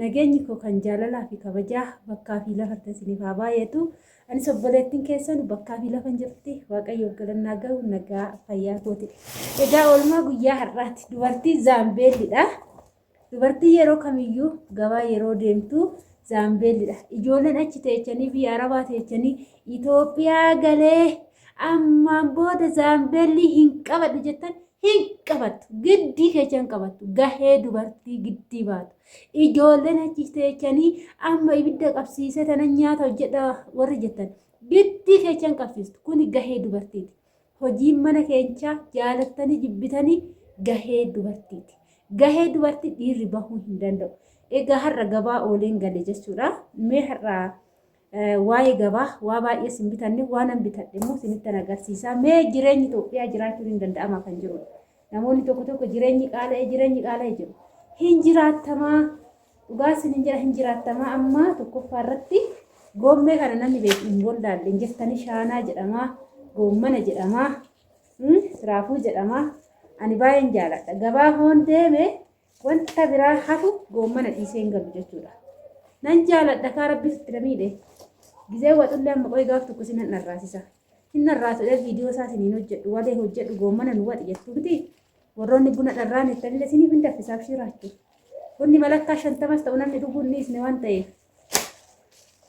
Nageenyi koo kan jaalalaa fi kabajaa bakkaa fi lafattan isiniif haa baay'atu. Anis obboleettiin keessan bakkaa fi lafan jirti. Waaqayyoof galannaa gahu nagaa fayyaa kooti. Egaa oolmaa guyyaa har'aati. Dubartii zaambeellidha. Dubartii yeroo kamiyyuu gabaa yeroo deemtu zaambeellidha. Ijoolleen achi teechanii biyya arabaa teechanii Itoophiyaa galee ammaan booda zaambeellii hin qabadhu jettan hin qabattu giddii keessa hin qabattu gahee dubartii giddii baatu ijoolleen achi teechanii amma ibidda qabsiisee tana nyaata hojjedha warri jettan giddii keessa hin qabsiistu kuni gahee dubartiiti hojiin mana keenyaa jaalattanii jibbitanii gahee dubartiiti gahee dubartii dhiirri bahuu hin danda'u egaa har'a gabaa ooleen gale jechuudha mee har'a Waa'ee gabaa waa baay'ee sin bitanne waanan bitadhe immoo sinittan agarsiisaa mee jireenyi Itoophiyaa jiraachuun hin danda'ama kan jirudha. Namoonni tokko tokko jireenyi qaala'ee jireenyi qaala'ee jiru. Hin jiraattamaa dhugaa sin hin jira hin jiraattamaa amma tokkoffaa irratti goommee kana namni beeku hin gollaalle hin jirtanii shaanaa jedhamaa goommana jedhamaa raafuu jedhamaa ani baay'een jaaladha gabaa hoon deeme Wanta biraa hafu goommana dhiisee hin galu jechuudha. Nan jaaladha kaa rabbi sitti na miidhe. Gizee waxullee amma qoy gaaf tokko sinan dharraasisa. Hin dharraasudha viidiyoo isaa siniin hojjedhu walee hojjedhu goommana nu waxi jettu miti. Warroonni buna dharraan jettanillee siniif hin daffisaaf shiiraachu. Bunni malakkaa shantamas ta'u namni dhuguu hin dhiisne waan ta'eef.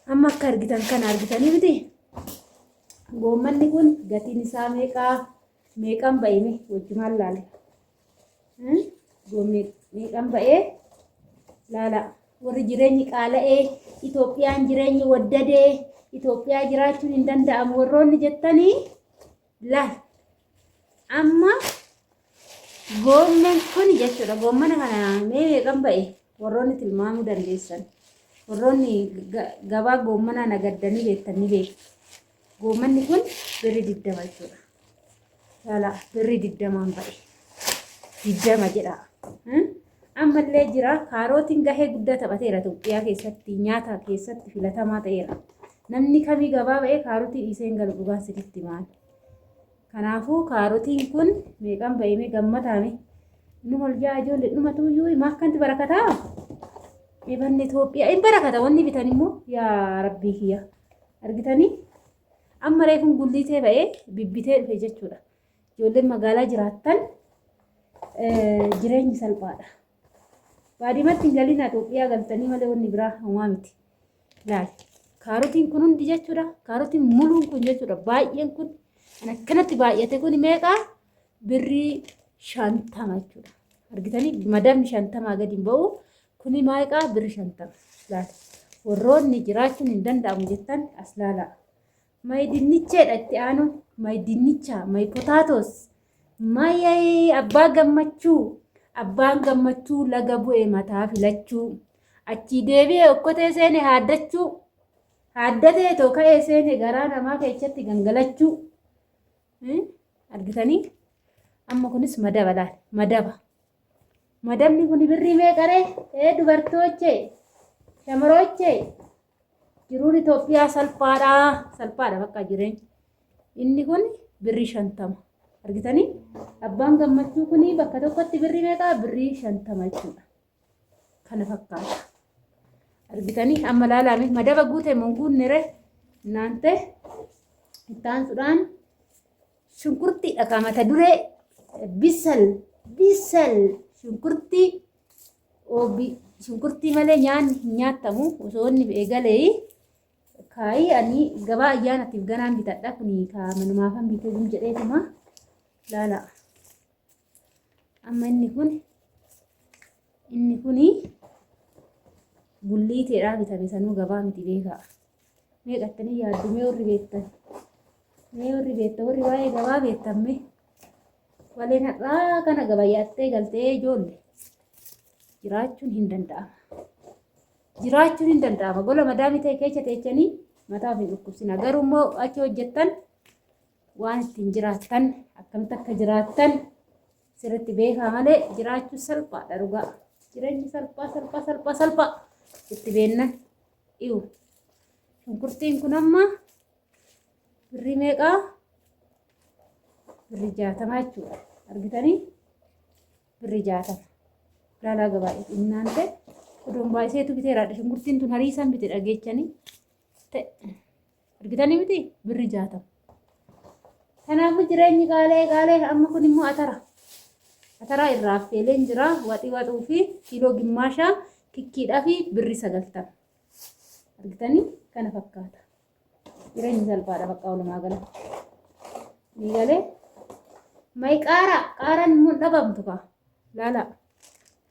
Amma akka argitan kana argitanii miti. Goommanni kun gatiin isaa meeqaa meeqaan ba'ime wajjumaan laale. Goomni meeqan ba'ee laala warri jireenyi qaala'ee Itoophiyaan jireenyi waddadee Itoophiyaa jiraachuun hin danda'amu warroonni jettanii laal amma goommeen kun jechuudha goommana kana mee meeqan ba'e warroonni tilmaamuu dandeessan warroonni gabaa goommanaa nagaddanii beektan ni beektu. Goommanni kun birri digdama jechuudha. Yaalaa birri digdamaan ba'e. Digdama jedha. Ammallee jira kaarootiin gahee guddaa taphateera Itoophiyaa keessatti nyaata keessatti filatamaa ta'eera. Namni kamii gabaa ba'ee kaarotii dhiisee hin galu dhugaa sirriitti maal. Kanaafuu kaarotiin kun meeqaan ba'eemee gammadaame. Inni ol ja'a ijoollee dhumatu iyyuu maakkanti barakataa. Ebanni Itoophiyaa hin barakata wanni bitan immoo yaa rabbii kiyya. Argitanii? Amma reefun gulliitee ba'ee bibbitee dhufe jechuudha. Ijoolleen magaalaa jiraattan jireenyi salphaadha. Baadimatti hin galinaa Itoophiyaa galtanii malee wanni biraa homaa miti. Laali. Kaarotiin kun hundi jechuudha. Kaarotiin muluun kun jechuudha. Baay'een kun kan akkanatti baay'ate kun meeqaa? Birrii shantama jechuudha. Argitanii? Madamni shantamaa gadi hin ba'u. Kuni maayqaa birri shantama laata warroonni jiraachuun hin danda'amu jettan as laalaa. My dinnicheedha itti aanu my dinnicha my potatoes my abbaa gammachuu abbaan gammachuu laga bu'e mataa filachuu achii deebi'e okkotee seene haaddachuu haaddatee too ka'ee seene garaa namaa keessatti gangalachuu argitanii amma kunis madaba laal madaba. Madabni kun birrii meeqaree? Ee dubartoochee, shamaroochee, jiruun Itoophiyaa salphaadha. Salphaadha bakka jireenya. Inni kun birrii shantama. Argitanii? Abbaan gammachuu kun bakka tokkotti birrii meeqaa? Birrii shantama jechuudha. Kana fakkaata. Argitanii? Amma laalaame madaba guute moo guunnere? Naante itti aansuudhaan Shunkurtii dhagaa mata duree bisal bisal shunkurtii obi shunkurtii malee nyaanni hin nyaatamu osoo inni eegalee kaayii ani gabaa ayyaanatiif ganaan bitadha kun kaa manumaafan bitee jedheetuma laala. amma inni kun inni kun gulliiteedhaa bitame sanuu gabaa miti beekaa meeqattanii yaaddu mee warri beektan mee warri beektan warri waa'ee gabaa beektan mee waleen har'aa kana gabayaattee galtee ijoolle jiraachuun hin danda'ama jiraachuun hin danda'ama gola madaamii ta'e keessa teechanii mataa ofii dhukkubsina garuu immoo achi hojjettan waan ittiin jiraattan akkamitti akka jiraattan sirriitti beekaa malee jiraachuun salphaadha dhugaa. Jireenyi salphaa salphaa salphaa salphaa itti beennan dhiyu. Shunkurtiin kun amma birrii meeqaa? Birrii jaatama jechuudha. Argitanii? Birrii jaatama. Ilaalaa gabaa innaan ta'e odoon baay'iseetu biteeraadha. Shunkurtiin tun hariisaan bite dhageechanii ta'e. argitanii miti birri jaatama kanaafuu jireenyi qaalee qaalee amma kun immoo atara ataraa irraa affeeleen jira waxii waxuu fi kiiloo gimmaashaa kikkiidhaa fi birri sagaltama argitanii kana fakkaata jireenyi salphaadha bakka walumaa gala ni galee may qaara qaaraan immoo hin dhabamtu kaa laalaa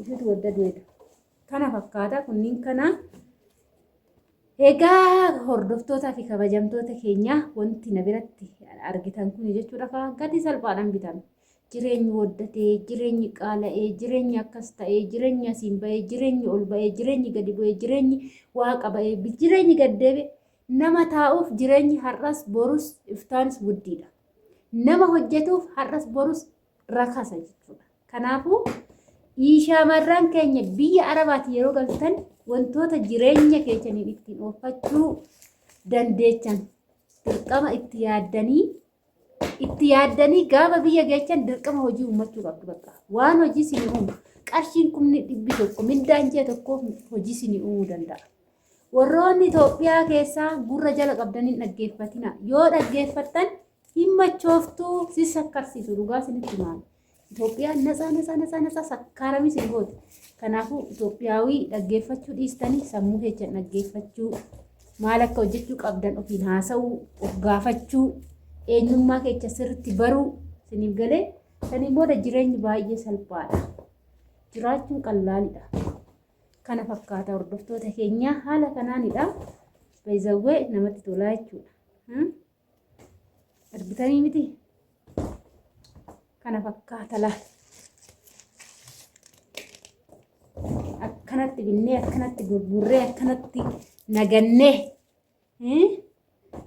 Ifitu wadda du'edha. Kana fakkaata kunniin kana egaa hordoftootaa fi kabajamtoota keenyaa wanti na biratti argitan kun jechuudha kaa gatii salphaadhaan bitan. Jireenyi waddatee, jireenyi qaala'ee, jireenyi akkas ta'ee, jireenyi asiin ba'ee, jireenyi ol ba'ee, jireenyi gadi bu'ee, jireenyi waaqa ba'ee, jireenyi gad deebi'e nama taa'uuf jireenyi har'as borus iftaanis guddiidha. Nama hojjetuuf har'as borus rakasa jechuudha. Kanaafuu shamarran keenya biyya arabaati yeroo galtan wantoota jireenya keessaniin ittiin oofachuu dandeechan dirqama itti yaaddanii itti yaaddanii gaafa biyya geechan dirqama hojii uummachuu qabdu bakka waan hojii sini uumu qarshiin kumni dhibbi tokko mindaan jee tokko hojii sini uumuu danda'a. Warroonni Itoophiyaa keessaa gurra jala qabdanii dhaggeeffatina yoo dhaggeeffattan hin machooftu si sakkarsiisu dhugaa sinitti maal Itoophiyaan nasaa nasaa nasaa nasaa sakkaaramii sin goote kanaafuu Itoophiyaawii dhaggeeffachuu dhiistanii sammuu keessan dhaggeeffachuu maal akka hojjechuu qabdan ofiin haasa'uu of gaafachuu eenyummaa keessa sirriitti baruu siniif galee saniin booda jireenyi baay'ee salphaadha jiraachuun qallaalidha kana fakkaata hordoftoota keenyaa haala kanaanidha baay'ee namatti tolaa jechuudha. Argitanii miti? Kana fakkaata laal. Akkanatti binnee, akkanatti gurgurree, akkanatti nagannee.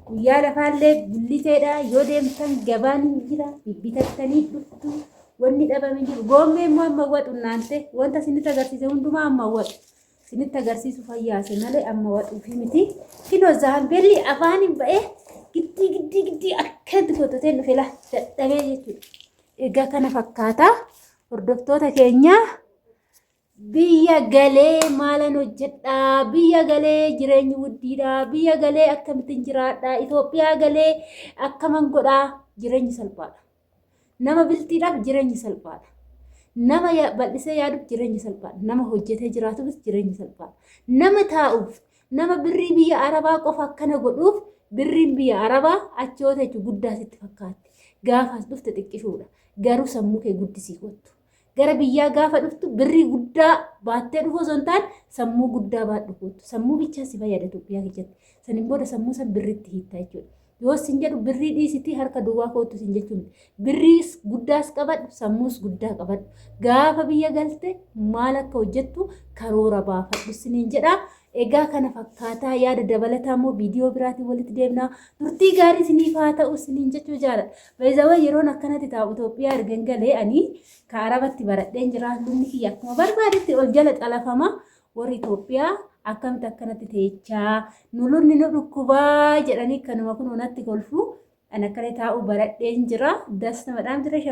Guyyaa lafaallee gulliseedha. Yoo deemtan gabaan hin jira. Bibbitattanii dhuftu. Wanni dhabame jiru. Goommee immoo amma waqu naante. Wanta isin itti agarsiise hundumaa amma waqu. Isinitti agarsiisuuf hayyaase malee amma wadhuufii miti. Kinoo zaambeelli afaaniin ba'ee giddii giddii giddii akkatti gotatee dhufe laa dadhabee jechuudha. Egaa kana fakkaata hordoftoota keenyaa biyya galee maalan hojjedhaa biyya galee jireenyi guddiidhaa biyya galee akkamittiin jiraadhaa Itoophiyaa galee akkaman godhaa jireenyi salphaadha. Nama bilxiidhaaf jireenyi salphaadha. Nama bal'isee yaaduuf jireenyi salphaadha. Nama hojjetee jiraatuufis jireenyi salphaadha. Nama taa'uuf, nama birrii biyya Arabaa qofa akkana godhuuf birriin biyya Arabaa achi yoo teechu guddaa sitti fakkaatti. Gaafaas dhufte xiqqishuudha. Garuu sammuu kee guddisii kottu. Gara biyyaa gaafa dhuftu birrii guddaa baattee dhufu osoo hin taane sammuu guddaa baadhu kootu. Sammuu bichaa si fayyada Itoophiyaa keessatti. Saniin booda sammuu san birriitti hiittaa jechuudha. Yoo sin jedhu birrii dhiisitii harka duwwaa kootu sin jechuun birriis guddaas qabadhu sammuus guddaa qabadhu. Gaafa biyya galte maal akka hojjettu karoora baafadhu siniin jedha. Egaa kana fakkaataa yaada dabalataa immoo viidiyoo biraatiin walitti deemna. Turtii gaarii isiniif haa ta'u isiniin jechuu jaalladha. Baay'isawwan yeroon akkanatti taa'u Itoophiyaa ergan galee ani ka Arabatti baradheen jira. Lubni kiyya akkuma barbaadetti ol jala xalafama. Warri Itoophiyaa akkamitti akkanatti teechaa nu lubni nu dhukkubaa jedhanii kanuma kun natti kolfu. Ani akkana taa'u baradheen jira. Das namadhaan jira.